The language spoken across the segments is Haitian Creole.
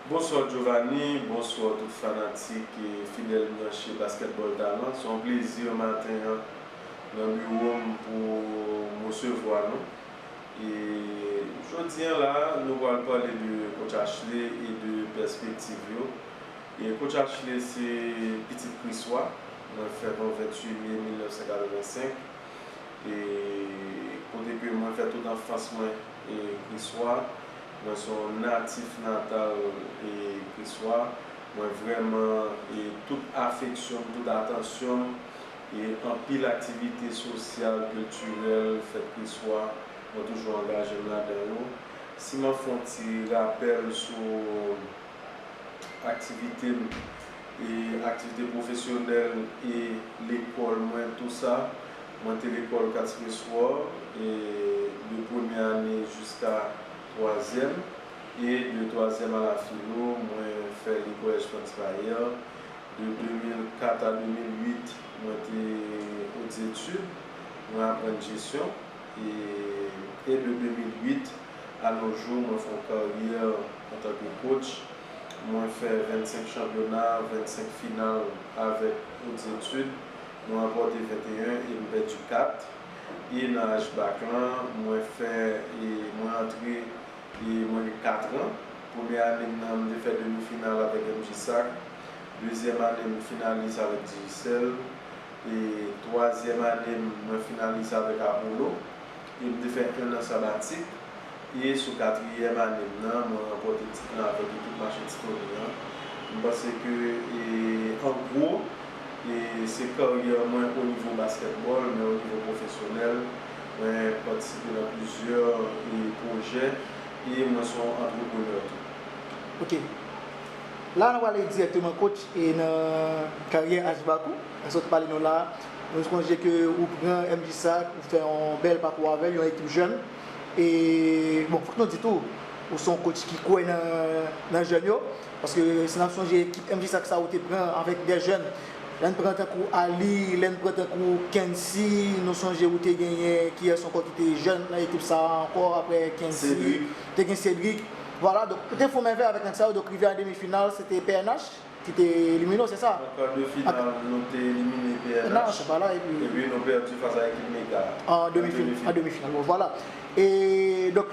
Bonsoir Jovany, bonsoir tout fanatik e fidèl branche Basketball Talent. Se yon plezi maten an nan biwo m pou m resevwa nou. E jodi an la a, nou pral pale de Coach Ashley e de pèspektiv yo. E Coach Ashley se pitit Kriswa, mwen fèt yon 28 mai 1985 e kote ke mwen fè tout anfans mwen. Kriswa, mwen son natif natal Kriswa, mwen vrèman tout afeksyon m, tout atansyon m, anpil aktivite sosyal, kiltirèl fèt Kriswa, mwen toujou angaje m ladan yo. Si map fè yon ti rapèl sou aktivite m, aktivite pwofesyonèl e lekòl mwen tou sa. Mwen te lekòl Katskileswar e de premyè ane jiska twazyèm e de twazyèm a la filo mwen fè li Collège Franz Bayer de 2004 a 2008 mwen te hautes études mwen aprann jesyon e e de 2008 a nos jours mwen fè yon karyè antanke coach mwen fè 25 chanpyona 25 final avèk hautes études Nou ranpòte 21 e nou pèdi 4 e nan Age Bac lan mwen fè e mwen antre e mwen gen 4 an. Premye ane m nan m te fè demi final avèk MJ Sac, dezyèm ane m finalis avèk Digicel e twazyèm ane m mwen finalis avèk Apollo. e m te fè enn an sabatik, e sou katriyèm ane m nan, mwen ranpòte tit lan avèk ekip Mache Ti Tony an. M panse ke, an gwo, se karyè mwen onivo baskètbòl, men onivo pwofesyonèl, mwen patisipe nan plizyè pwojè, e mwen se yon antreprenè tou. Ok. La a nou prale dirèkteman, coach, nan karyè Ashback ou, sa w te pale nou la a, Mwen sonje ke ou pran MJ Sack, ou fè yon bèl pakou avè l, yon ekip jèn. E bon, fòk nou di tou, ou se yon kotch ki kwè nan jèn yo. Paske si n ap sonje ekip MJ Sack sa ou te pran avèk dè jèn, lè n pran tankou Aly, lè n pran tankou Kensy, nou sonje ou te genyen kiyès ankò ki te jèn nan ekip sa a ankò aprè Kensy? Cedric. Te gen Cedric. Vwala, donk ou te fon mèvèy avèk nèg sa yo. Donk rive an demi final, se te pnh. Ki te elimine w se sa? Nan kar de final nou te elimine pnh. Nan se pa la epi. Epi nou pèdi fas a ekip Mega a. An demi final. An demi final bon vwala. E donk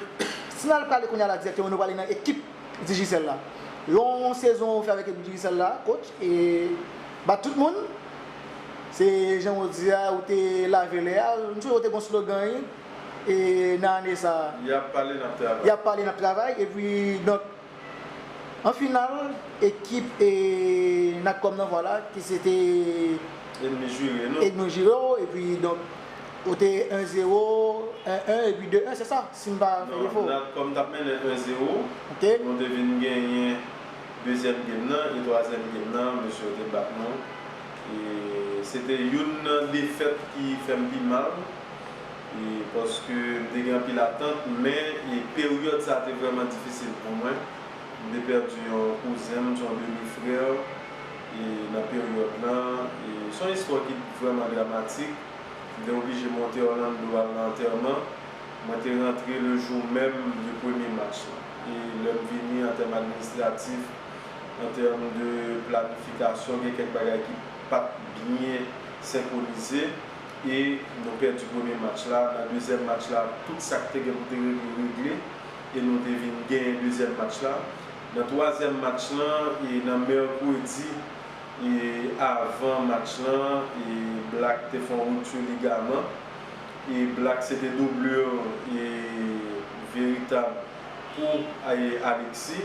si nal pale kounye a la dirèkteman nou prale nan ekip Digicel la. Yon sezon ou fè avèk ekip Digicel la coach e bat tout moun. Se jan ou di a ou te lave lè a. M sonje ou te gon slogan wi e nan ane sa. Yap pale nap travay. Yap pale nap travay epi donk. An final, ekip Natcom nan vwala ki se te Edmond Giraud non? Edmond Giraud epi donk ou te 1 zero, 1 1 epi 2 1 se sa? Si m pa fè defo. Non, Natcom t ap mennen 1 zero, nou te vin genyen dezyèm gem nan e twazyèm gem nan mesye yo te bat nou e se te youn nan defèt ki fè m pi mal Paske m te gen anpil atant men peryòd sa te vrèman difisil pou mwen. M te pèdi yon kouzen m, yon demi frère nan peryòd lan. Se yon istwa ki vrèman dramatik. M te oblije monte Orlando al nan antèman. Mwen te rantre le jou menm de premye Mars lan. E lè m vini an tèm administratif, an tèm de planifikasyon gen kèk bagay ki pa t byen senkronize. e nou pèdi premye match la, nan dezyèm match la tout sak te gen pou te regle regle e nou te vin genyen dezyèm match la, nan twazyèm match lan e nan mèkredi e avan match lan e Black te fon rupture ligaman e Black se te doublure e veritab pou e Alexis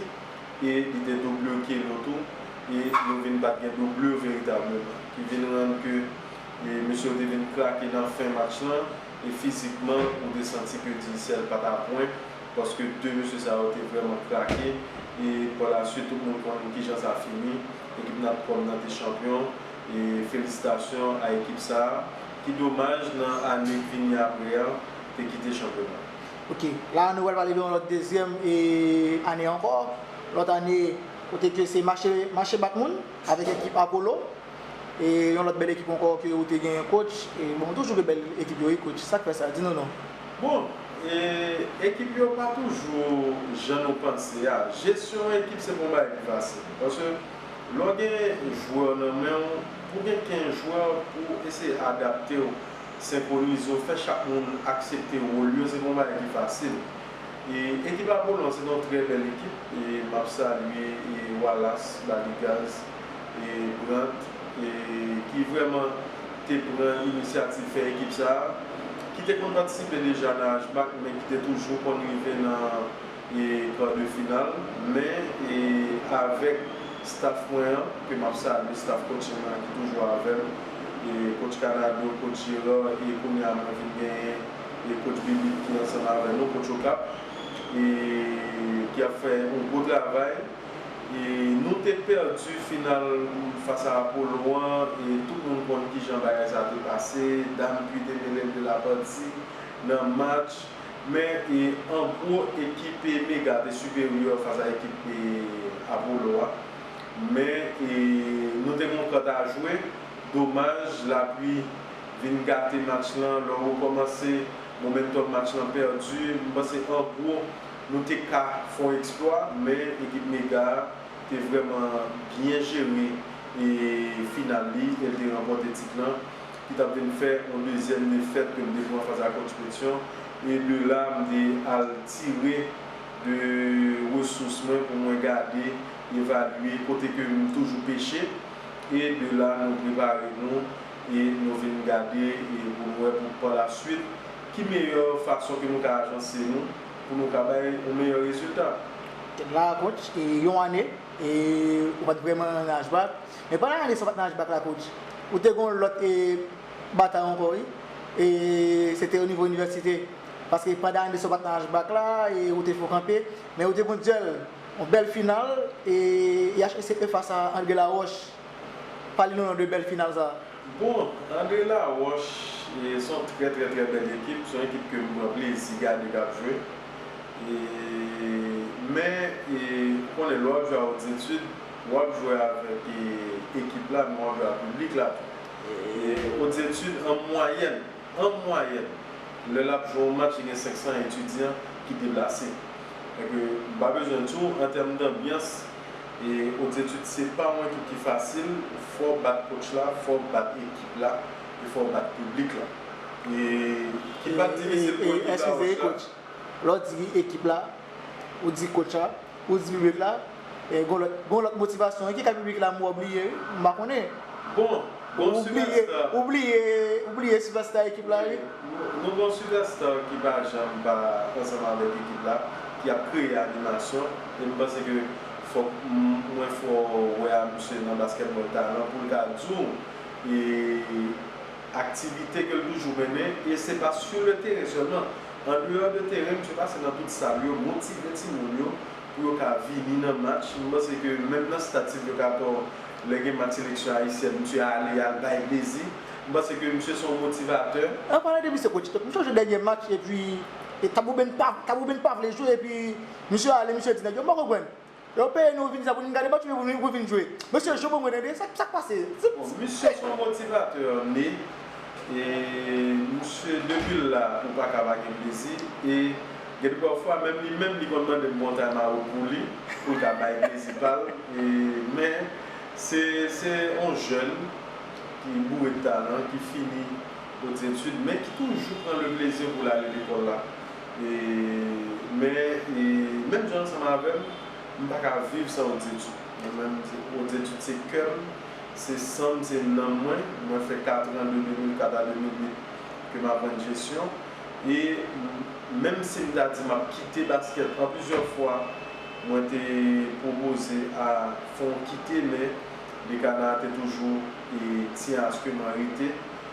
e li te doublure Kelo tou e nou vin pat gen doublure veritableman ki vin rann ke Mesye yo te vin krake nan fen match lan e fizikman ou te santi ke Digicel pa ta pwen paske 2 mesye sa yo te vrèman krake e pa la swit tout moun konn kijan sa fini ekip Natcom nan te chanpyon e felisitasyon a ekip sa ki domaj nan ane k vini apre an te kite chanpyona. Ok, la nou pral pale de yon lòt dezyèm ane ankò, lòt ane kote ke se mache bat moun avèk ekip Apollo. E yon lòt bèl ekip ankò ke ou te genyen coach e bon toujou gen bèl ekip yo wi coach sak fè sa di nou non. Bon e ekip yo pa toujou jan nou panse a jesyon yon ekip se pa yon bagay ki fasil paske lè w gen jwè nan men w pou gen 15 jwè pou w eseye adapte w senkwonize w fè chak moun aksepte wòl yo se pa yon bagay ki fasil e ekip Apollon se te yon trè bèl ekip e m ap salye Wallace Baligaz. Brandt, ki vrèman te pran inisyativ fè ekip sa a, ki te konn patisipe deja nan HBAC men ki te toujou konn rive nan kar de final. Men, avèk staf mwen an, ke m ap salye, staf coaching mwen an ki toujou avè m, coach Canado, coach Gerard, e kounye a mwen vin genyen coach Bibitte ki ansanm avè nou, coach Okap, ki ap fè yon gwo travay. Nou te pèdi final fas a Apollon an e tout moun konn kijan bagay sa te pase, Dam Pui te mele l de la pati nan match men an gwo ekip Mega te siperyè fas a ekip Apollo a men nou te gen yon kant a jwe domaj la pli vin gate match lan lè w rekòmanse momentum match lan pèdi m panse an gwo Nou te ka fon eksplwa men ekip Mega a te vrèman byen jere final li e l te ranpòte tit lan ki t ap vin fè yon dezyèm defèt ke m te pran fas a Coach Petion e de la m te al tire de resous mwen pou mwen gade, evalye kote ke m toujou peche e de la nou prepare nou e nou vin gade pou nou wè pou pa la swit ki meyè fason ke nou ka ajanse nou. pou nou ka bay yon meyè rezilta. Tèm lan an coach e yon ane e ou pat vrèman nan ashback men pandan ane sa ou pat nan ashback la coach ou te gen yon lòt e batay ankò wi e se te onivo inivèsite paske pandan ane sa ou pat nan ashback la e ou te fè yon kanpe men ou te gen yon dyèl yon bèl final e IHSE face a André Laroche. Pale nou non de bèl final sa. Bon, Andre Laroche se yon trè trè trè bèl ekip. Se yon ekip ke m pran plezi gade k ap jwe. Men, ou konnen lè w ap jwe a Hautes Etudes, w ap jwe avèk ekip la men w ap jwe avèk piblik la tou. Hautes Etudes an mwayèn, an mwayèn, lè l ap jwe yon match li gen 500 etidyan ki deplase. Donk, m pa bezwen di w, an tèm danbyans, E hautes études se pa yon ekip ki fasil, fò w bat coach la, fò w bat ekip la, e fò w bat piblik la. E ki pa t difisil pou ekip la Roche la. Lè w di ekip la, ou di coach la, ou di piblik la, e gon lòt, gon lòt motivasyon wi ki ka piblik la m wè w bliye wi, m pa konnen. Bon, gon sipèsta. Ou bliye, ou bliye sipèsta ekip la wi. Nou gon sipèsta ki pa janm pa ansanm avèk ekip la, ki ap kreye animasyon. Epi m panse ke fòk mwen fè w wè a misye nan baskètbòl talan pou l ka di w aktivite ke l toujou mennen e se pa sou le teren sèlman. Andeyò de teren misye pase nan tout sal yo motive timoun yo pou yo ka vini nan match. M panse ke menm nan stad Sylvio Cator lè gen match seleksyon ayisyèn misye ale y al bay plezi. M panse ke misye se yon motivatè. An palan de misye kotch, m sonje dènye match epi Tabou Ben pa vle jwe epi. Misye ale misye di nèg yo m pa konprann yo peye nou vin sa pou n gade match oubyen pou vin jwe mesye jwe pou mwen tande sa k pase Bon misye son motivatè li e misye depi l la ou paka pa gen plezi e gen de pafwa menm li menm li konn mande m kontray maroc pou li pou l ka bay plezi pa l e men se se on jèn ki boure de talan ki fini ozetid men ki toujou pran le plezi pou l ale lekòl la Men menm jan ansanm avèm m paka viv san Odetchou mwen menm Odetchou se kèm se sanm se nanm mwen mwen fè 4 ans de 2004 a 2008 ke m aprann jesyon e menm si m ta di map kite baskèt an plizyè fwa mwen te pwopoze a fon kite men dekana te toujou e tyen aske mwen rete.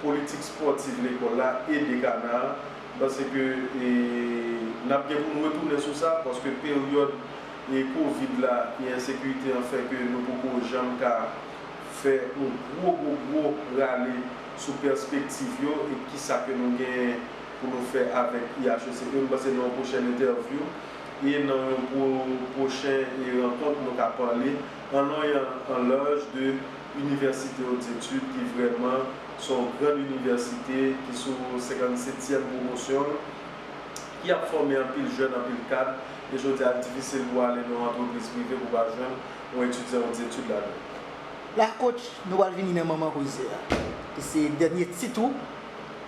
Politik spòtiv lekòl la e dekana a, m panse ke n ap gen pou n retounen sou sa, paske peryòd kovid la e ensekirite an fè ke nou poko janm ka fè yon gwo gwo gwo rale sou pèspektiv yo e ki sa ke nou genyen pou nou fè avèk IHEC. E m panse nan yon pwochèn entèvyou e nan yon pwochen rankont nou ka pale an long e an laj de Université Hautes Etudes ki vrèman se yon grand université ki sou 57 tièm pwomosyon l, ki ap fòme anpil jèn, anpil kad, e jodi a l difisil pou w ale nan yon antrepriz prive pou w pa jwenn yon etidyan Hautes Etudes ladan l. La coach, nou pral vini nan manman koze a, ki se dènye tit ou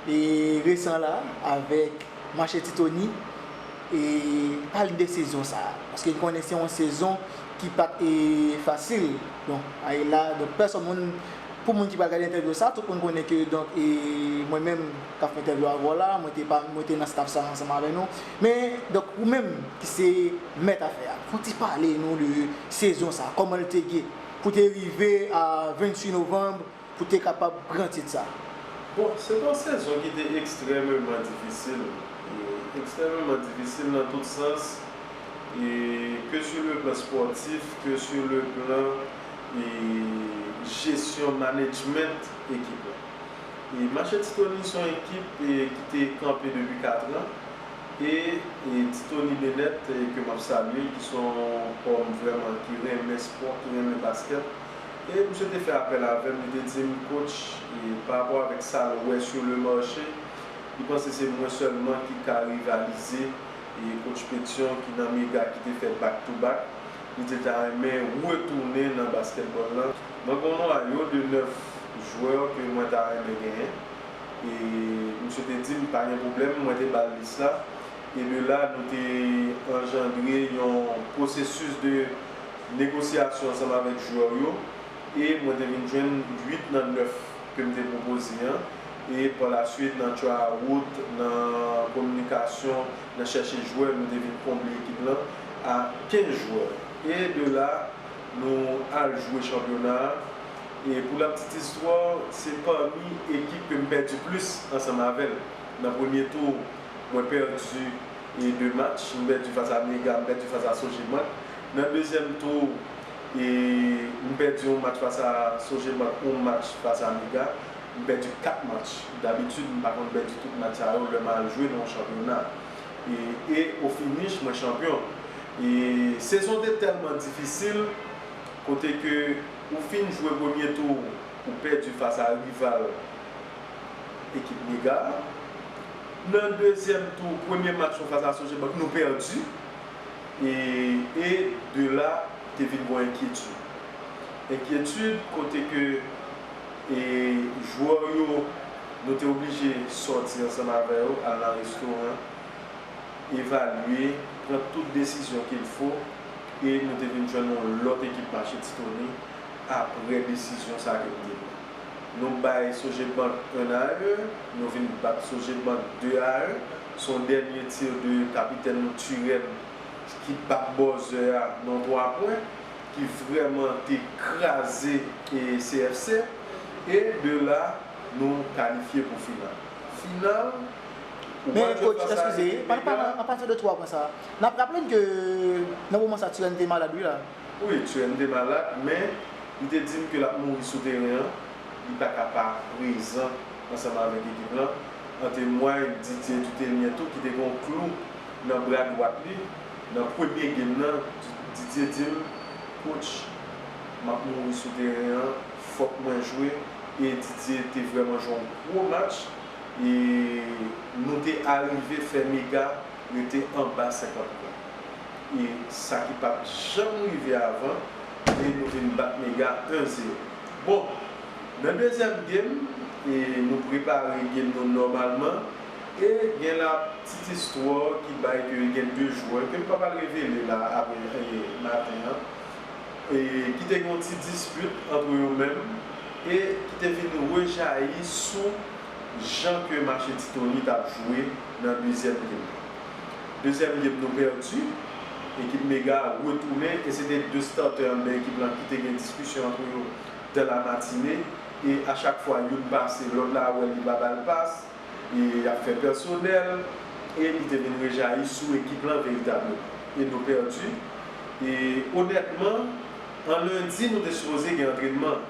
e resan la avèk Marchetti Tony e pale n de sezon sa a, paske n konnen se yon sezon. ki pat fasil donk ay la donk pèsòn moun pou moun ki pral gade entèvyou sa tout moun konnen ke donk e mwen menm kap fè entèvyou avèw la mwen te pa mwen te nan staf sa ansanm avè nou men donk ou menm ki se mèt afè a fon ti pale nou de sezon sa kòmanl te ye pou te rive a 28 novanb pou te kapab pran tit sa. Bon, se te yon sezon ki te ekstrèmeman difisil, ekstrèmeman difisil nan tout sans, ke sou le plan spòtif, ke sou le plan jesyon, manedjment ekip la. Mache Ti Tony se yon ekip ki te kanpe depi katran e Ti Tony Benèt ke m ap salye, ki se yon hòm vrèman ki renmen spò, ki renmen baskèt, E misye te fè apèl avè m, li te di m, Coach, parapò avèk sa l wè sur le marché, li panse se mwen sèlman ki ka rivalize Coach Pétion ki nan Mega ki te fè back to back. Li te ta renmen retounen nan baskètbòl lan. Mwen gen yon nwayo de 9 jwè ke mwen ta renmen genyen. E misye te di m, pa gen pwoblèm, mwen te ba l lis la. E de la nou te anjandre yon pwosesis de. negosyasyon ansanm avèk jwè w yo e mwen te vin jwenn 8 nan 9 ke m te pwopoze an e pa la swit nan tryout, nan kominikasyon, nan chèche jwè nou te vin konble ekip lan a 15 jwè e de la nou al jwe chanpyona a e pou la ptit istwa w se pami ekip ke m pèdi plis ansanm avè l nan premye tou mwen pèdi e 2 match nou pèdi fas a Mega nou pèdi fas a Sogebank nan dezyèm tou e nou pèdi yon match fas a Sogebank yon match fas a Mega nou pèdi 4 match dabitid m pa konn pèdi tout match sa yo lè m al jwe nan yon chanpyona e e o finish mwen chanpyon e sezon te tèlman difisil kote ke ou fin jwe premye tou ou pèdi fas a rival ekip Mega a Nan dezyèm tou premye match nou fas a Sogebank nou pèdi e de la te vin gon enkyetid. Enkyetid kote ke jwè yo nou te oblije sòti ansanm avè yo al nan restoran, evalye, pran tout desizyon kil fo e nou te vin jwenn yon lòt ekip mache ti toni apre desizyon sa ke nou te pran. Nou bay Sogebank 1 a 1, nou vin bat Sogebank 2 a 1. Se yon dènye tir de kapitèn nou Turenne ki bat bòzè a nan yon 3 pwen ki vrèman te kraze CFC e de la nou kalifye pou final. Final ou pa jwe fas a ekip Mega. Men coach, eskize, an pati de 3 pwen sa a, n ap raple n ke nan moman sa a Turenne te malad wi la. Wi, tchè, m te malad, men, li te di m ke l ap mouri sou teren an, li pa ka pa prezan ansanm avèk ekip lan, an temway Didier Dutelien tou ki te gen yon klou nan bra dwat li nan premye game nan, Didier di m, Coach, m ap mouri sou teren an, fòk mwen jwe, e Didier te vrèman jwe yon gwo match, e nou te arive fè Mega rete anba 50 pwen. e sa ki pat janm rive avan e nou vin bat Mega 1 zero. Bon nan dezyèm game e nou prepare game nou nòmalman e gen la ptit istwa ki bay ke gen 2 jwè ke m pap al revele la aprè maten an e ki te gen yon ti dispit antre yo menm e ki te vin rejayi sou jan ke Machetitonit ap jwe nan dezyèm game. Dezyèm gem nou pèdi, ekip Mega retounen e se te 2 startè anndan ekip lan ki te gen diskisyon antre yo dan la matine e a chak fwa youn pase lòt la wè li pa ba l pas e y ap fè pèsonèl e li te vin rejayi sou ekip lan veritableman e nou pèdi e onètman an lendi nou te sipoze gen antrenman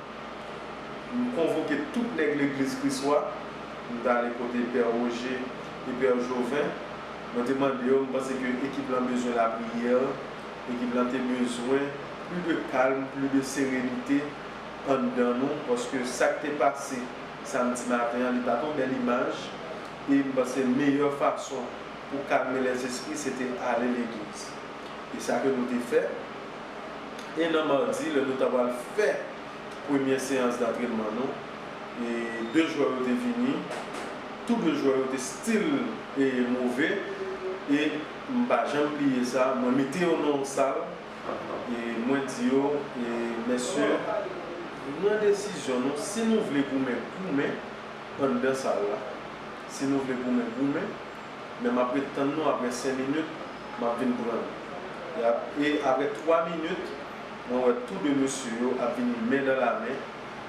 m konvoke tout nèg legliz kris wa m t ale kote pè Roger. Eber Jovin, Mwen te mande yo, m panse ke ekip lan bezwen lapriyè, ekip lan te bezwen pli de kalm, pli de serenite anndan nou, paske sa k te pase samdi maten an, li pa t yon bèl imaj, e m panse meyè fason pou kalme lèzespri se te ale legliz. E sa ke nou te fè, e nan madi lè nou ta pral fè premyè seyans dantrenman nou, e de jwè yo te vini, Tou 2 jwè yo te still move e m pa janm bliye sa. Mwen mete yo nan yon sal e mwen di yo, Mesye, pran desizyon nou. Si nou vle goumen, goumen anndan sal la. Si nou vle goumen, goumen. Men m ap ret tann nou apre 5 minit, m ap vin pran nou. E apre 3 minit, mwen wè tou 2 mesye yo ap vini men dan la men.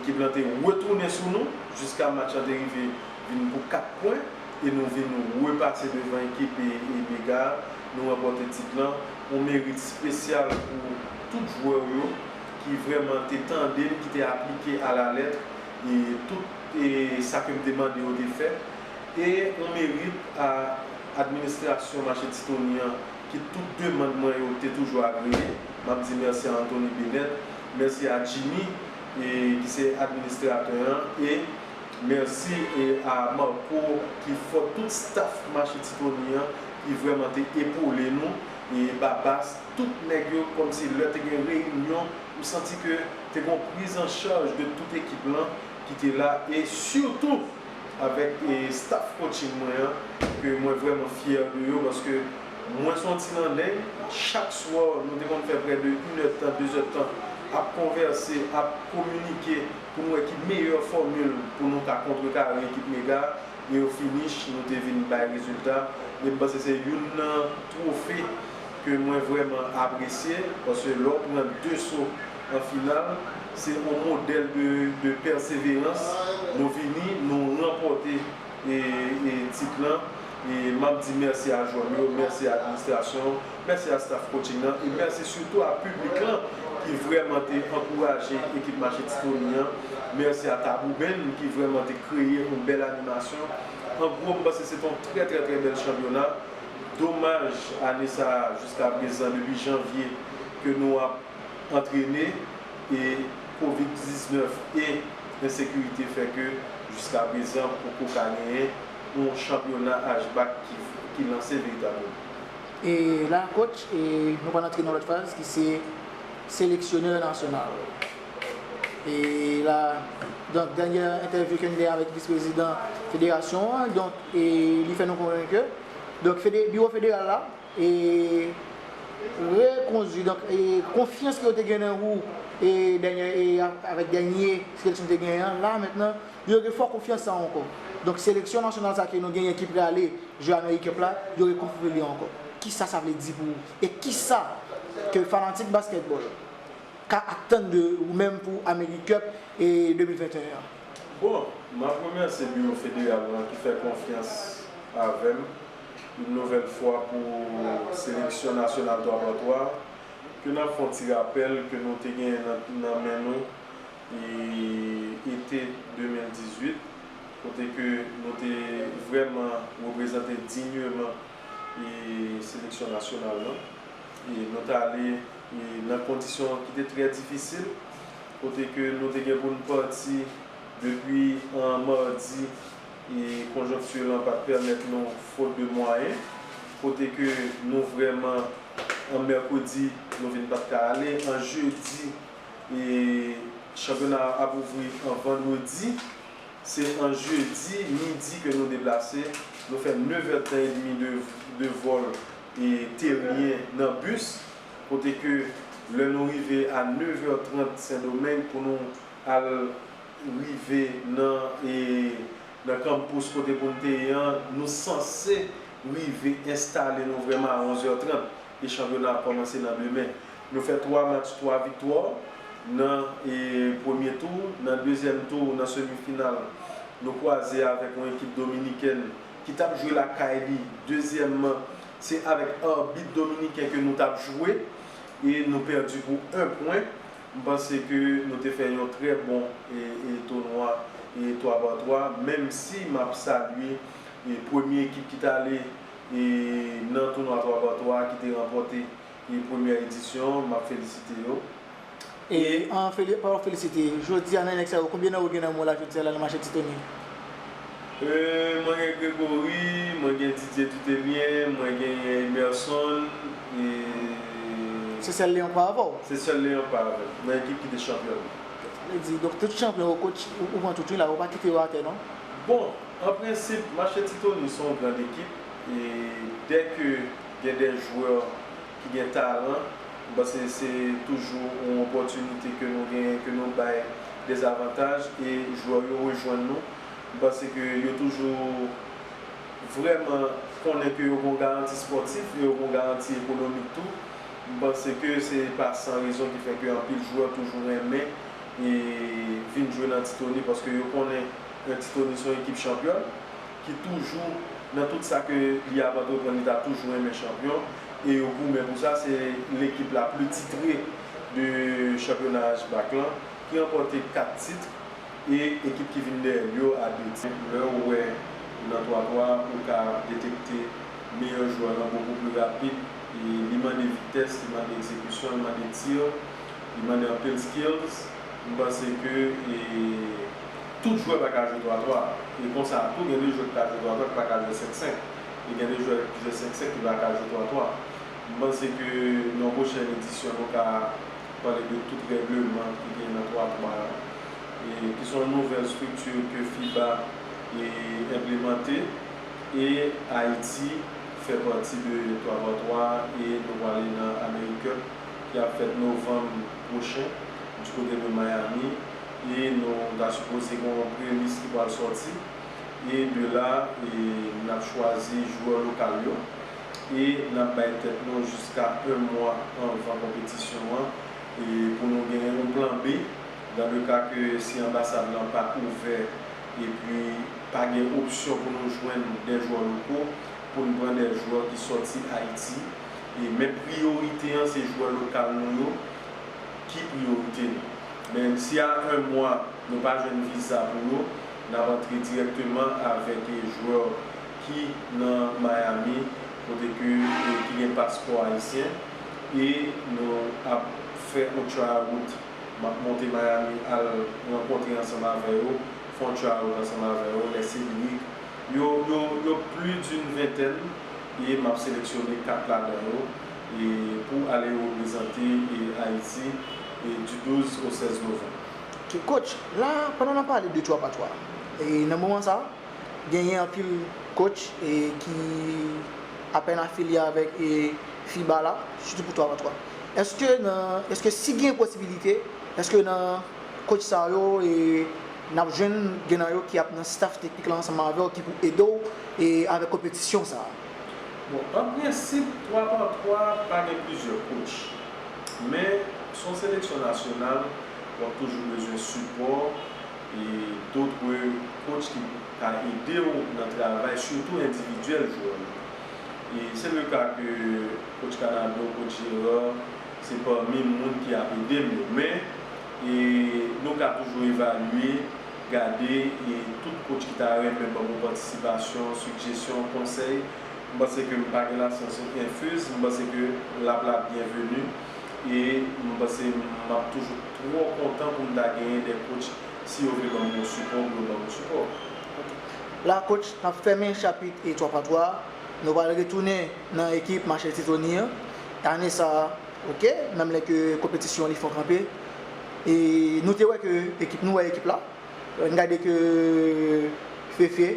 Ekip lan te retounen sou nou jiska match lan te rive vin pou 4 pwen e nou vin repase devan ekip Mega a. Nou ranpòte tit lan. On merit spesyal pou tout jwè w yo ki vrèman te tande m, ki te aplike a la lettre tout sa ke m te mande yo te fè. E on merit a administrasyon Mache Ti Tony an ki tout demand mwen yo te toujou agreye. M ap di mèsi a Anthony Benet. Mèsi a Jimmy ki se administratè an e mèsi a Marco ki fò tout staff mache Tifoni an ki vrèman te epole nou e Babas tout nèg yo kòmsi lè te gen reyinyon ou santi ke te gon priz an chaj de tout ekip lan ki te la e sitou avèk staff coaching mwen an ke mwen vrèman fyè de yo paske Mwen son ti nandeng, chak swa nou te konn fè prè de inèdtan, dezèdtan ap konvèse, ap kominike pou n wè ki meyè fòmil pou nou ka kontrekare ekip mega a e o finish nou te vin bay rezilta e m panse se youn nan twofe ke mwen vrèman apresye paske lè w pran 2 so an final se on modèl de pèseverans nou vini nou ranpòte tit lan e map di mèsi a jwè m yo, mèsi a administrasyon an, mèsi a staff coaching nan e mèsi sitou a piblik lan ki vrèman te ankouraje ekip Mache Tifoni an, mèsi a Tabou Band ki vrèman te kreye yon bèl animasyon. An gwo m panse se te yon trè trè trè bèl chanpyona. Domaj ane sa jiskaprezan depi janvye ke nou ap. antrene e Kovid 19 e ensekirite fè ke jiskaprezan poko ka genyen yon chanpyona HBAC ki lanse veritableman. E la coach e nou pral antre nan lòt faz ki se seleksyonè nasyonal. E la donk dènyè entèvyou ke n gen avèk vis prezidan federasyon an donk e li fè nou konnen ke donk biwo federal la e rekondwi donk e konfyans ke yo te gen nan ou e dènyè e avèk dènye seleksyon te genyen an la mentnan yo re fò konfyans sa ankò donk seleksyon nasyonal sa ke nou genyen ki prale jwe amerik cup la yo re konfwi li ankò kisa sa vle di pou ou e kisa ke fanatik baskètbòl ka atann de ou menm pou amerik cup e 2021 an. Bon, map remèsye biwo federal lan ki fè konfyans avèm. Yon nouvèl fwa pou seleksyon nasyonal 3 x 3 ke nap fè yon ti rapèl ke nou te genyen nan men nou ete 2018 kote ke nou te vrèman reprezante dinyeman seleksyon nasyonal lan. Nou te ale nan kondisyon ki te trè difisil kote ke nou te gen pou nou pati depi an mardi. e konjonkti lan pat pèmèt nou fot de mwayen, kote ke nou vrèman an mèkredi nou vin pat ka ale an jedi e chanpyona an ap ouvri an vandredi, se an jedi midi ke nou deplase, nou fè nevèdtan edmi de vòl e teryen nan bis, kote ke lè nou rive a nevè trant sendomeng pou nou al. rive nan nan kanmpous kote pou n te ye an, nou sanse rive enstale nou vrèman a 11 è 30 e chanpyona ap kòmanse nan demen. Nou fè 3 match 3 viktwa nan premye tou. Nan dezyèm tou, nan semi final, nou kwaze avèk yon ekip dominikèn ki t ap jwe lakay li. Dezyèmman, se avèk arbit dominiken ke nou t ap jwe e nou pèdi pou 1 pwen. M panse ke nou te fè yon trè bon tounwa 3 par 3 menm si m ap salye premye ekip ki t ale nan tounwa 3 par 3 a ki te ranpòte premyè edisyon an, m ap felisite yo e. An palan felisite, jodi a nan nèg sa yo konbyen nan yo gen nan mò la jodi a la nan mache Ti Tony? Mwen gen Gregory, mwen gen Didier Toutemien, mwen genyen Emerson e. Se sèl Leon k pa avè w? Se sèl Leon k pa avè m, nan ekip ki te chanpyon an. Sa vle di, donk tout chanpyon yo kotch, ou pran tout wi la, ou pa kite yo atè non? Bon, an prensip, Mache Ti Tony se yon grand ekip e dè ke gen dè jwè. ki gen talan, m panse se toujou yon opòtinite ke nou genyen, ke nou bay des avantages e jwè yo rejwenn nou. M panse ke yo toujou vrèman konnen ke yo gen yon garanti spòtif e yo gen yon garanti ekonomik tou. M panse ke se pa san rezon ki fè ke anpil jwè toujou renmen vin jwe nan Ti Tony paske yo konnen Ti Tony se yon ekip chanpyòn. ki toujou nan tout sa ke li ap antreprann li ta toujou renmen chanpyon e yo goumen pou sa se lekip la pli titre de chanpyona HBAC lan ki ranpòte 4 titre e ekip ki vin dèyèl yo a 2 titre. Lèw wè nan twa twa a ou ka detekte meyè jwè lan bokou pli rapid e li mande vitès li mande ekzekisyon li mande tir li mande anpil skills m panse ke e. Tout jwè pa ka jwe twa twa, e konsa tou gen de jwè ki ka jwe twa twa ki pa ka jwe senk senk, e gen de jwè ki jwe senk senk ki pa ka jwe twa twa. M panse ke nan yon pwochèn edisyon nou ka pale de tout règleman ki gen nan twa twa a, e ki son nouvèl estrikti ke fiba enplemante, e Ayiti fè pati de twa twa twa a, e nou pwale nan Amerikèp ki ap fèt novanm pwochen di kote de Miami. e nou ta sipoze gen yon prelis ki pral sòti e de la nap chwazi jwè lokal yo e nap bay tèt nou jiska 1 mwa anvan konpetisyon an pou nou gen yon plan B dan le ka ke si anbasad lan pa ouvè e pi pa gen opsyon pou nou jwenn dè jwè loko poun pran dè jwè ki sòti Ayiti e men priyorite an se jwè lokal nou yo. ki priyorite nou. Men si a 1 mwa nou pa jwenn viza pou yo, n ap antre dirèkteman avèk jwè ki nan Miami kote ke ki gen paspò ayisyen e nou ap fè on tryout. M ap monte Miami al rankontre ansanm avè yo, fè on tryout ansanm avè yo, lè se lirik. Yo yo yo pli d'une ventèn e m ap seleksyone 4 ladan yo. pou ale reprezante Ayiti du 12 au 16 novanm. Coach, la a, pandan n ap pale de Twapatwa, nan moman sa a, genyen anpil coach ki apèn afilye avèk fiba la, sitou pou Twapatwa. Èske nan, èske si gen posibilite, èske nan coach sa yo n ap jwenn gen nan yo ki ap nan staff teknik la ansanm avè w ki pou ede w avèk konpetisyon sa a? Bon, an prensip, twa pa twa pa gen plizyè kotch. Men, si w yon seleksyon nasyonal, w ap toujou bezwen sipò e dotre kotch ki ka ede w nan travay, sitou endividyèl jwè yo. E se le ka ke kotch Kanado, kotch Gérard, se pami moun ki ap ede m yo. Men, nou ka toujou evalye. gade e tout kotch ki ta renmen banm yon patisipasyon, sigjesyon, konsèy m panse ke m pa gen lasyans enfuz m panse ke lap la byenveni e m panse map toujou twò kontan pou m ta genyen de kotch si yo vle banm yon sipò pou yo banm yon sipò. Ok la kotch nap fèmen chapit 3 pa 3 nou pral retounen nan ekip Machel Titoni an ane sa ok menm lè ke konpetisyon li fon kanpe. E nou te wè ke ekip nou wè ekip la n gade ke Fefe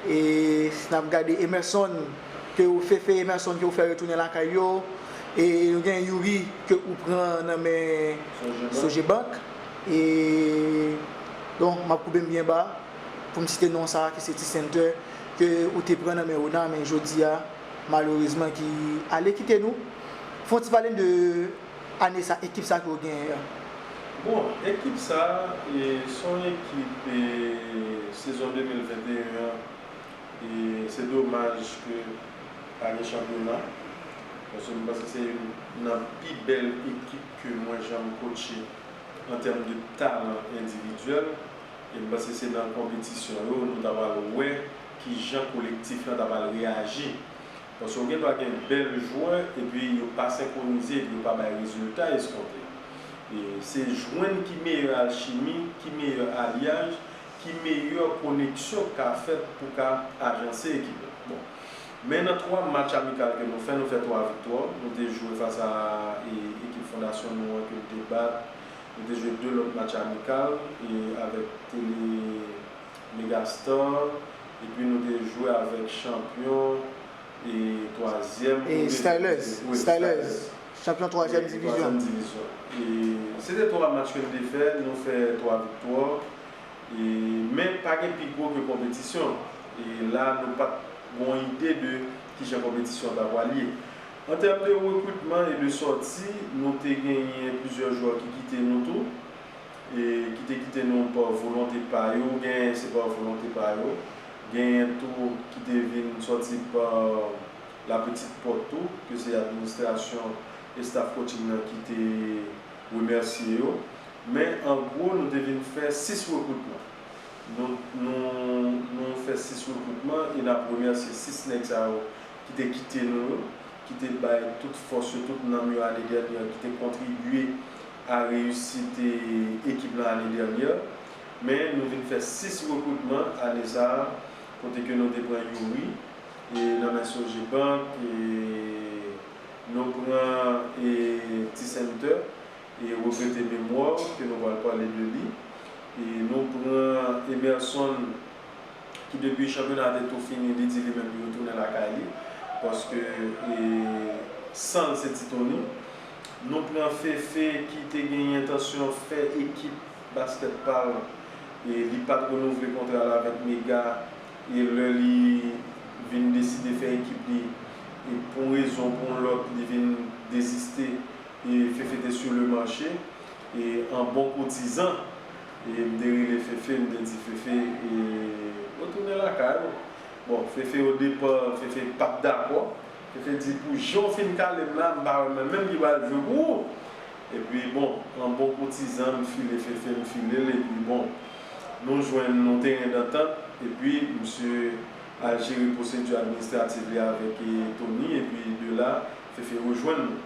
e n ap gade Emerson ke ou Fefe Emerson ke ou fè retounen lakay yo e nou gen Youri ke ou pran nan men Sogebank e bon m ap koube m byen ba pou m site non sa ki se T-Center ke ou te pran nan men Ona men jodi a malerezman ki ale kite nou fon ti pale m de Ane sa ekip sa ki yo genyen an. Bon ekip sa son ekip sezon 2021 an se domaj ke pa gen chanpyona paske m panse se youn nan pi bèl ekip ke mwen janm kotche an tèm de talan endividyèl e m panse se nan konpetisyon yo nou ta pral wè kijan kolektif lan ta pral reyaji Paske yo gen dwa gen bèl jwè epi yo pa senkwonize epi yo pa bay rezilta eskonte. Se jwenn ki meyè alchimi, ki meyè alyaj, ki meyè koneksyon k ka fèt pou w ka ajanse ekip la. Bon. Men nan 3 match amikal ke nou fè, nou fè 3 viktwa. Nou te jwe fas a ekip Fondasyon nou an ke nou te bat. Nou te jwe 2 lòt match amikal avèk Tele. Megastar epi nou te jwe avèk chanpyon e twazyèm ou de Stylers wi Stylers chanpyon twazyèm divizyon e se te twa match ke n te fè nou fè twa viktwa e men pa gen pi gwo ke konpetisyon e la nou pat gon ide de kijan konpetisyon an ta pwal ye an tèm de rekritman e de sòti nou te genyen plizyè jwè ki kite nou tou. E ki te kite nou pa volonte pa yo, genyen se pa volonte pa yo, genyen tou ki te vin sòti pa la petite porte tou, ke se administrasyon e staff coaching nan ki te remèsye yo. Men an gwo nou te vin fè 6 rekritman. Nou nou fè 6 rekritman e n ap remèsye 6 nèg sa yo ki te kite nou yo, ki te bay tout fòs yo, tout nanm yo ane dènye an, ki te kontribye a reyisite ekip lan ane dènyè, men nou vin fè 6 rekritman ane sa a kote ke nou te pran Youri nan men Sogebank, nou pran T-Center, regrete Memoire ke nou pral pale de li, nou pran Emerson. ki depi chanpyona te tou fini li di li menm li retounen lakay li paske san l se ti toni nou pran Féfé ki te gen entansyon fè ekip baskèt pa l li pa t renouvle kontra l avèk mega e lè li vin deside fè ekip li pou yon rezon pou yon lòt li vin deziste Féfé te sur le marché an bon koutizan. M te rele Fefe, m te di Fefe, retounen lakay ou. Bon, Fefe odepan, Fefe pa t dakò. Fefe di, pou jan w fin kale m la, m pa wè mwen menm ki pral jwe pou ou. Epi bon, an bon koutizan, m file Fefe, m file l, epi bon, nou jwenn yon teren dantant, epi misye al jere pwosedi administrativ li avèk Tony, epi de la, Fefe rejwenn nou.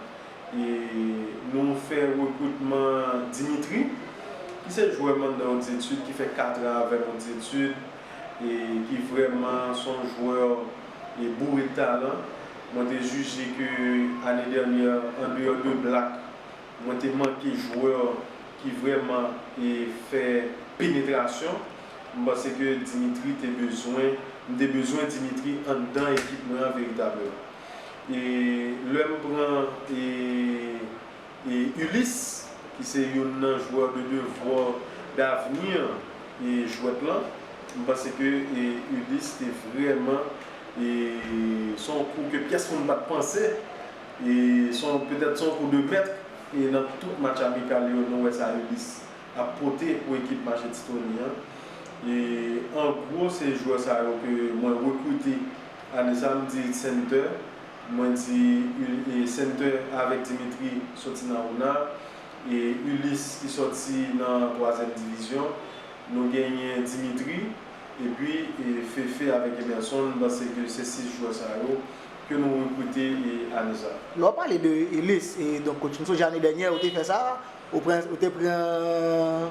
Nou fè rekritman Dimitri, ki se jwè m'en nan yon Ditud ki fè 4 an avèm yon Ditud e ki vrèman son jwè e boure talan. Mwen te jije ke ane dènyè an deyò de Black, mwen te manke jwè ki vrèman e fè penetrasyon. M panse ke Dimitri te bezwen, m te bezwen Dimitri anndan ekip mwen an veritableman. E lè m pran e Ulysse ki se youn nan joueur de devoir d'avenir e jwèt lan, m panse ke e Ulysse te vrèman e se yon kou ke pyès moun pat panse e se yon petèt se yon kou de mèt e nan tout match amikal yo nou wè sa Ulysse ap pote pou ekip Mache Titoni an e an gwo se joueur sa yo ke mwen rekrite Ane sa m di center mwen di center avek Dimitri soti nan ona e Ulysse ki soti nan twazyèm divizyon nou genyen Dimitri epi Fefe avek Emerson m panse ke se 6 jwè sa yo ke nou rekrite ane sa. Lè w pale de Ulysse donk coach m sonje ane dènyè ou te fè sa ou te pran.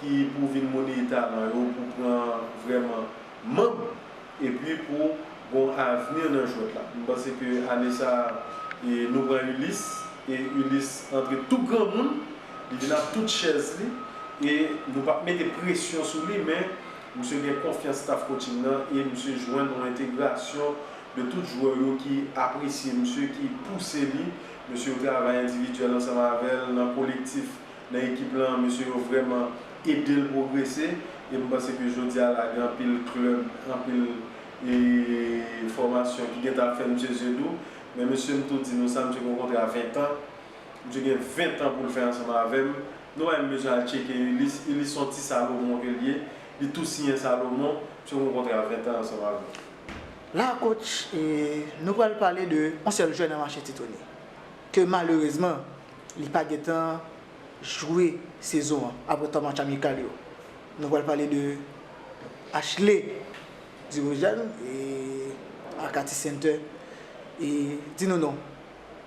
ki pou vin moneye talan yo pou pran vrèman manb epi pou gon avni nan jwèt la. M panse ke ane sa nou pran Ulysse e Ulysse antre tou granmoun, li vin ak tout chèz li e nou pap mete presyon sou li men misye gen konfyans staff coaching nan e misye jwenn yon entegrasyon de tout jwè yo ki apresye misye, ki pouse li, mesye yo travay endividyèl ansanm avè l nan kolektif nan ekip lan mesye yo vrèman edel pwogrese em panse ke jodia la gen anpil klèb anpil fòmasyon ki gentan ap fè misye zye dou men mesye m tou di nou sa misye gen yon kontra 20 tan misye gen 20 tan poul fè ansanm avèm nou pa menm bezwen al tcheke Ulysse Ulysse son ti salomon ke l ye li tou siyen salomon misye gen yon kontra 20 tan ansanm avèm. La coach nou pral pale de yon sèl jwè nan mache ti tony ke malerezman Li pa gentan jwe sezon an aprè 3 match amikal yo. Nou pral pale de Ashley Dirijan e Arcati Center e di nou non.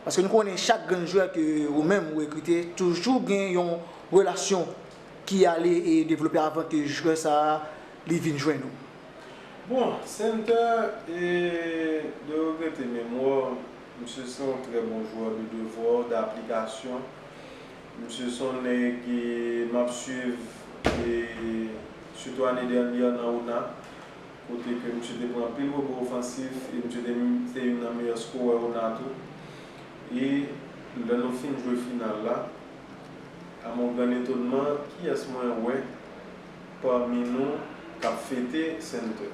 Paske nou konnen chak grenn jwè ke ou menm ou rekrite toujou gen yon relasyon ki ale e devlope avan ke jwè sa a li vin jwenn ou. Bon, Center e de regrete memwa Misye se yon trè bon jwè de devò, d'aplikasyon. Misye se yon nèg m ap swiv sitou ane dènye nan ona kote ke misye te pran anpil rebo ofansif e misye te menm te youn nan meyè skorè ona tou. E lè nou fin jwe final la, a mon grand etonman, kiyès mwen wè pami nou k ap fete Center?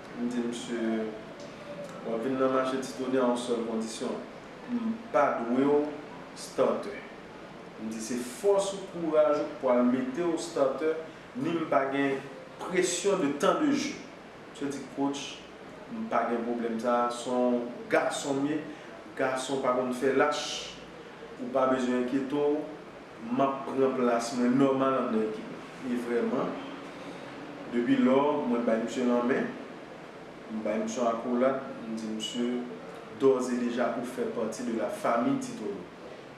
M di misye, Wap vin nan mache ti tonè a yon sèl kondisyon, m pa dwe w statè. M di se fòs ou, kouraj ou k pwal mete w statè, ni m pa gen presyon de tan de je. Misye di coach, m pa gen pwoblèm sa, son gason m ye, gason pa konn fè lach, ou pa bezwen enkyete w. Map pran plas mwen nòmal an nan ekip la. E vrèman, depi lò, mwen bay misye lanmen, m bay misye yon akolad, m di misye, dòz e deja ou fè pati de la famille Titolo.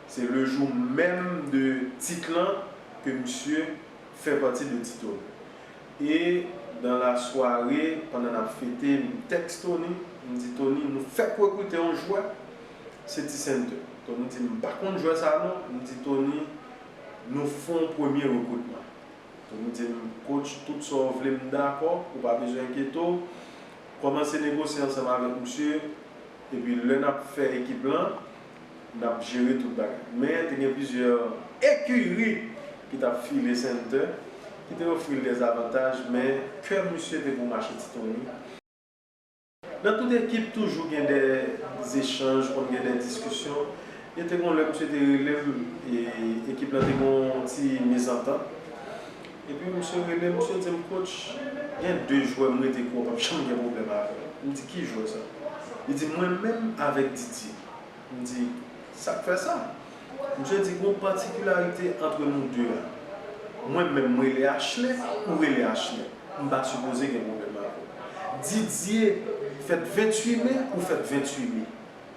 Se le jour même de tit lan ke misye fè pati de Titolo. E dans la soirée, pandan nap fete, m tèks Tony, m di Tony, nou fèk rekrite yon jwè, Se ti sèn tou. Tony di, M pa konn jwè sa non. M di Tony, Nou fè yon premye rekritman. Tony di m, Kotch, tout sa w vle m dakò, ou pa bezwen enkyete w. Kòmanse negosye ansanm avèk misye, epi lè n ap fè ekip lan, n ap jere tout bagay. Men, te gen plizyè ekiri ki t ap file Center, ki te ofri l dèzavantaj, men kè misye te pou mache ti Tony. Nan tout ekip toujou gen dè zechanj, konn gen dè diskisyon. Gen te gon lè misye te rele m e ekip lan te gon ti mezantant. Epi misye rele m, misye di m, Coach, gen de jwè m rete kwè w pap janm gen pwoblèm avè l. M di, Ki jwè sa? Li di, Mwen menm avèk Didier. M di, Sa k fè sa? Misye di gon patikilarite antre nou 2 a. Mwen menm m rele Achle, ou rele Achle. M pa sipoze gen pwoblèm avè w. Didye fèt 28 me, ou fèt 28 me.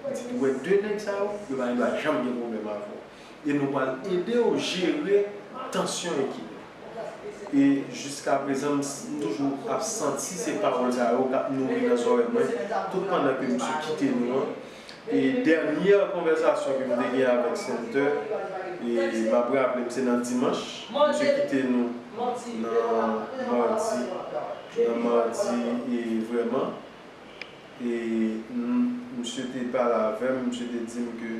M di ou wè 2 nèg sa yo, yo pa gen dwa janm gen pwoblèm avè w. E nou pral ede w jere tansyon ekip la. E jiska prezan m toujou ap santi se pawòl sa yo k ap nouri nan zòrèy mwen tout pandan ke misye kite nou an. E dènyè konvèsasyon ke m te gen avèk Center, e m ap raple m se nan dimanch, misye kite nou nan madi, nan madi e vrèman, e misye te pale avè m, misye te di m ke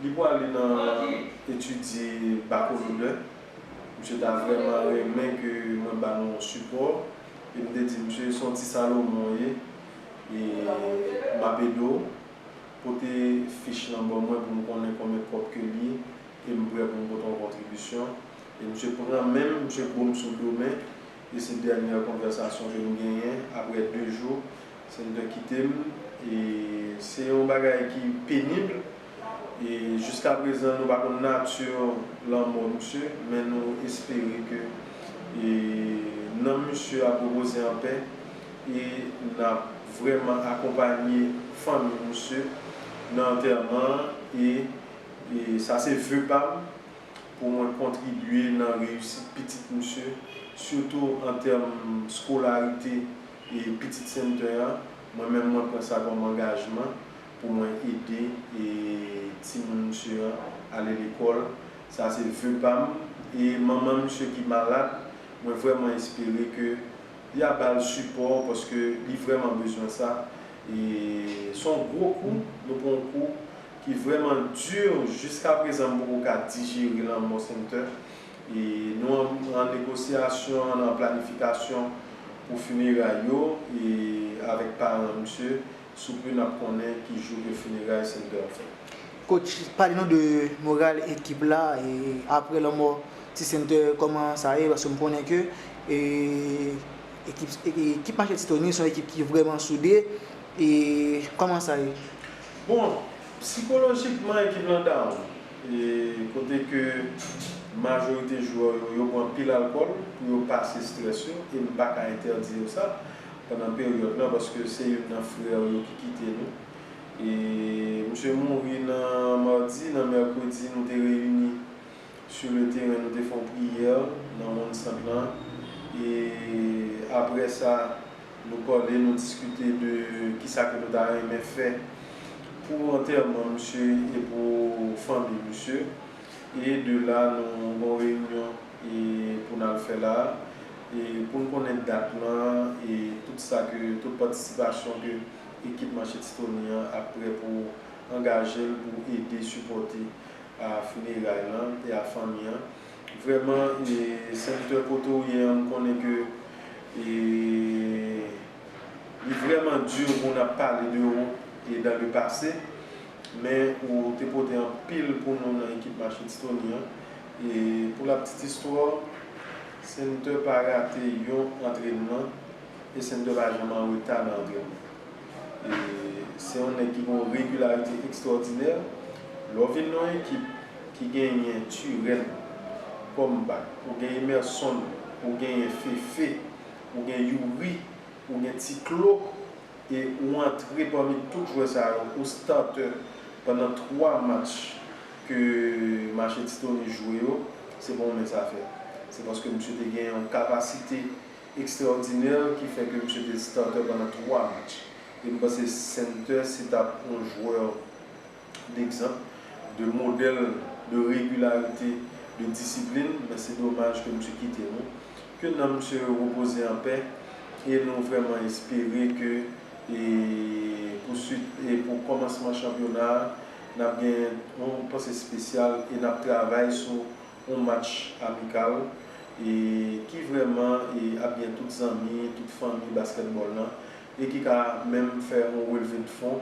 li pwale nan etidye bakolodè, misye ta vrèman renmen ke mwen ba nou yon sipò, e m te di misye se yon ti Salomon w ye, e m ap ede w. Pote fich lan ban mwen pou m konnen konbyen kòb ke l ye e m prè pou m pote yon kontribisyon. E misye pran men m, misye bo m sou do men e se dènyè konvèsasyon ke n genyen. Aprè 2 jou, Senator kite m e se yon bagay ki penib. e jiska prezan nou pa konn nati lanmò misye men nou espere ke nanm misye ap repoze an pè e nap vrèman akonpanye fanmi misye nan antèman an e sa se ve pam pou mwen kontribye nan reyisit pitit misye sitou an tèm skolarite pitit Sennten an mwen menm mwen pran sa kòm angajman pou mwen ede timoun misye an ale lekòl sa se ve pam e manman misye ki malad mwen vrèman espere ke ya bal sipò paske li vrèman bezwen sa e son gwo kou nou pran yon kou ki vrèman dur jiska prezan m poko ka dijere lanmò Sumter e nou an negosyasyon an planifikasyon pou funeray yo e avèk paran misye. Souple nap konnen ki jou ke funeray Center an fèt. Coach pale nou de moral ekip la aprè lanmò ti Center kòman sa ye paske m konnen ke ekip Machete Tony son ekip ki vrèman soude e kòman sa ye? Bon psikolojikman ekip lan down e kote ke majorite jwè yo yo bwè anpil alkòl pou yo pase strès yo e m paka entèdi yo sa pandan peryòd lan paske se youn nan frè w yo ki kite nou e misye mouri nan mardi nan mèkredi nou te reyini sou le teren nou te fè yon priyè nan wonn sant lan e aprè sa nou pale nou diskite de kisa ke nou ta renmen fè pou antèman misye e pou fanmi misye e de la nou gen yon reyinyon e pou n al fè la. Pou n konnen dat lan e tout sa ke, tout patisipasyon ke ekip Manche Titoni an ap prè pou angaje l pou ede sipòte a fineray lan e a fanmi an. Vrèman e Sèvitè kote w ye an m konnen ke e li vrèman dur pou n ap pale de ou e dan le pase men ou te pote anpil pou nou nan ekip Manche Titoni an e pou la ptit istwa w Center pa rate yon antrenman e Center pa janm an reta nan antrenman. E se yon nèg ki gen yon regilarite ekstwòdinè. Lè w vin nan yon ekip ki genyen Turenne kòm bak, ou gen Emerson, ou genyen Fefe, ou gen Youri, ou gen Ti Klo. e ou antre pami tout jwè sa yo ou starter pandan 3 match ke Machete Tony jwe yo, se pa yon mens afè. Se paske misye te gen yon kapasite ekstraòdinè ki fè ke misye te starter pandan 3 match. E m panse Center se tap yon jwè d'exemple, de modèle de régularité, de discipline, men se domaj ke misye kite nou. Ke nanm misye repoze an pè e nou vrèman espere ke pou swit e pou kòmansman chanpyona a nap gen yon panse espesyal e nap travay sou yon match amikal e ki vrèman e ap gen tout zanmi, tout fanmi baskètbòl lan e ki ka menm fè yon relve de fon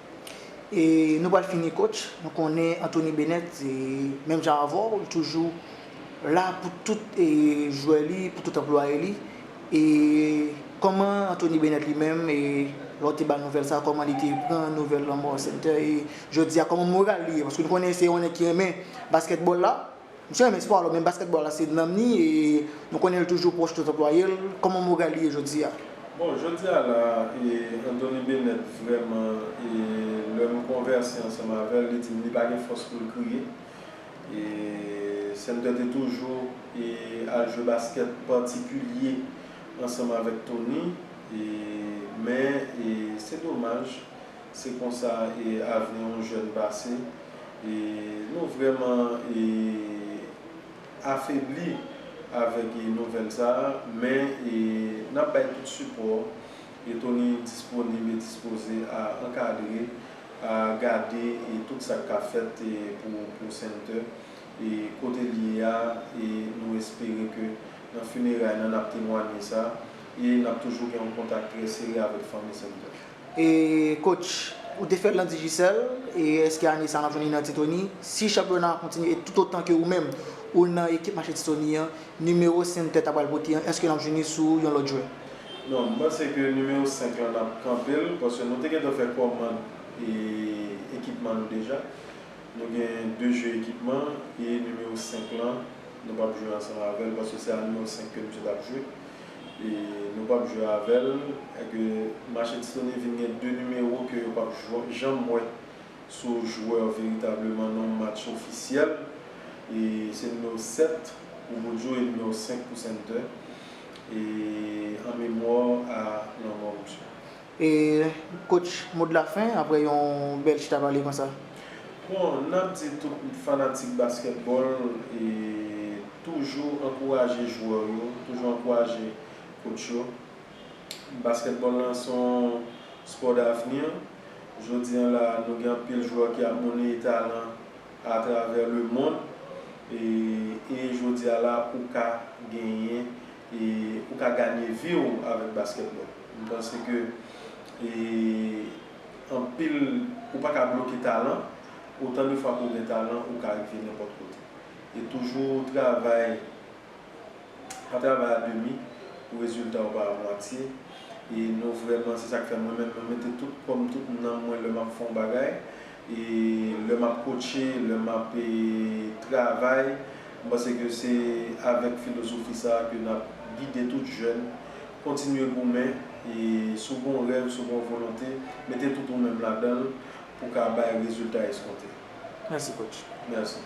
E nou pral fini coach, nou konnen Anthony Bennett se menm jan avèw li toujou la pou tout jwè li, pou tout anplwaye li e kòman Anthony Bennett li menm e lè w te bal nouvèl sa kòman li te pran nouvèl lanmò Center e jodi a kòman moral li ye paske nou konnen se yon nèg ki renmen basketball la. Misye renmen spò alò men baskètbòl la se nanm ni e nou konnen l toujou pwòch tout anplwaye l, kòman moral li ye jodi a? Bon jodi a la e Antony Bennett vrèman e lè m konvèse ansanm avè l li di m li pa gen fòs pou l kriye e Sumter te toujou e al jwe baskèt patikilye ansanm avèk Tony e men e se domaj Se konsa avni yon jèn pase. Nou vrèman afebli avèk nouvèl sa a, men n ap bay tout sipò. Tony disponib e dispoze a ankadre, a gade tout sa k ka fèt pou Senter. Kote l ye a, nou espere ke nan fineray nan n ap temwanye sa. E n ap toujou gen yon kontak trè sere avèk fanmi Senter. E coach, ou te fèl nan Digicel, e eske ane sa nap jwenn li nan Titoni? Si chanpyona an kontinye e toutotan ke ou menm ou nan ekip mache Titoni an, nimewo 5 tè ta pral pote an, eske nap jwenn li sou yon lòt jwè? Non, m panse ke nimewo 5 lan nap kanpe l, paske nou te gentan fè kòmand ekipman nou deja. Nou gen 2 jwe ekipman e nimewo 5 lan nou pap jwe ansanm avèl paske se a nimewo 5 ke misye tap jwe. e nou pap jwe avèl e ke Machine Sony vin gen 2 nimewo ke yo pap janm wè sou jwè veritableman non match ofisyèl e se nimewo 7 pou Boudjou e nimewo 5 pou Center e an memwa a lanmò misye. E coach mo de la fin aprè yon bèl chita pale konsa. Bon nap di tout fanatik basketball toujou ankouraje jwè w yo toujou ankouraje coach yo basketball lan son sport d'avenir jodi an la nou gen anpil jwè ki ap moneye talan a travè le monde e jodi a la ou ka genyen E ou ka ganye vi w avèk baskètbòl. M panse ke e anpil ou pa ka bloke talan. Otan de fwa ke w gen talan ou ka rive nenpòt kote. E toujou travay pa travay a demi pou rezilta w pa a mwatye. E nou vrèman se sa k fè mwen menm mwen mete tout kò m tout nanm mwen lè m ap fè yon bagay. E lè map kotche, lè map travay, m panse ke se avèk filozofi sa ke nap gide tout jèn, kontinye goumen, e si w gon rèv, si w gon volonte, mete tout ou menm ladan l pou ka bay rezilta eskonte. Mèsi coach. Mèsi.